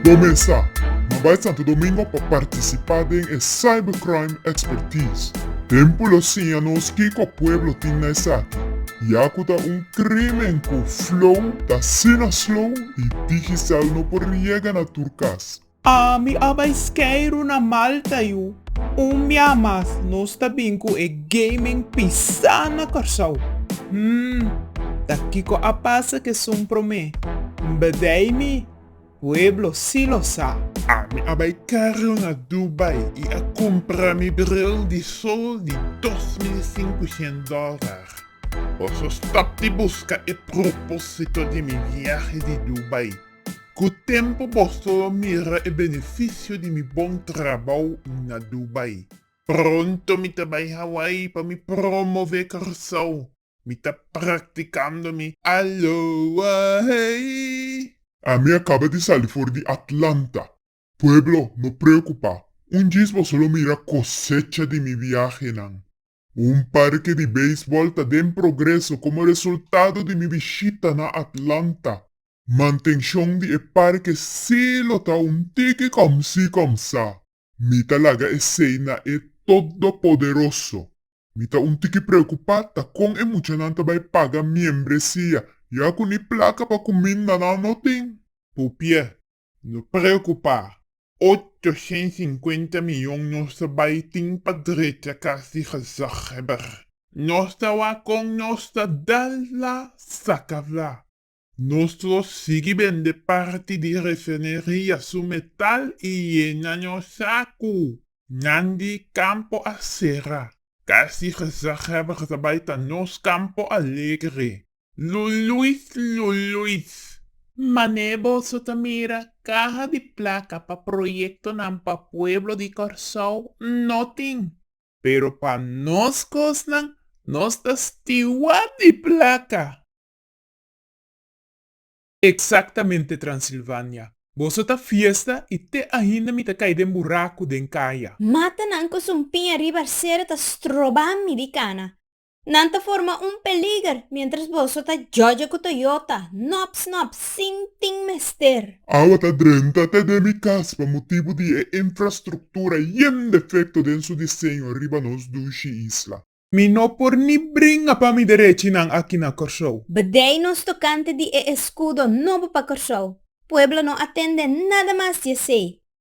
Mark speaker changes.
Speaker 1: Bo mester na bai Santo Domingo pa participa den e Cybercrime Expertise. Tempo lo siña nos kico pueblo tin na esaki y a cu ta un crimen cu flow ta asina slow y digicel no por riega na tur cas. A mi a bai skeiru na Malta yu un mia mas nos ta bin ku e gaming pisa na Kòrsou. Hum ta kiko a pasa kesun promé bdei mi pueblo si lo sa. A mi a bai karu na Dubai i a kumpra mi bril di sol di dos mil i sinkuhent dòlar. Boso stòp di buska e propósito di mi viahe di Dubai. Ku tempu boso lo mira e benefisio di mi bon trabou na Dubai. Pronto mi ta bai Hawaii pa mi promové Kòrsou. Mi ta praktikando mi Aloha hey! Ami a kaba di sali for di Atlanta. Pueblo, no preokupá. Un djis boso lo mira kosecha di mi biahenan. Un parke di beisbòl ta den progreso komo resultado di mi bishita na Atlanta. Mantenshon di e parke sí lo ta un tiki kòmsi kòmsá. Mi ta laga esei na e Todopoderoso. Mi ta un tiki preokupá ta kon e muchanan ta bai paga miembresia ya ku ni plaka pa kuminda nan no tin. Pupiè, No preocupa. Ocho cen cincuenta miyon nos ta bay tin pa drecha cas di gezaghebber. Nos ta wa con nos ta dal la saca vla. Nos lo sigui bende parti di refineria su metal y yena nos sacu. Nan di campo a cera. Cas di gezaghebber ta bay ta nos campo alegre. Luluis Luluis! Mané boso ta mira, kaha di plaka pa proyektonan pa pueblo di Kòrsou no tin. Pero pa nos kosnan, nos ta stiward di plaka! Eksaktamente Transilvania! Boso ta fiesta i te ainda mi ta kai den buraku den kaya. Matanan ku su un piña riba arsero ta strobami di kana. Nan ta forma un peliger mientras boso ta djodje cu Toyota, nops nops, sin tin mester. Awa ta drenta te den mi cas pa motibu di e infrastructura yen defecto den su diseño riba nos dushi isla. Mi no por ni bringa pa mi derechinan aki na Corsou. Bdij nos tocante di e escudo nobo pa Corsou. Pueblo no atende nada mas di esey.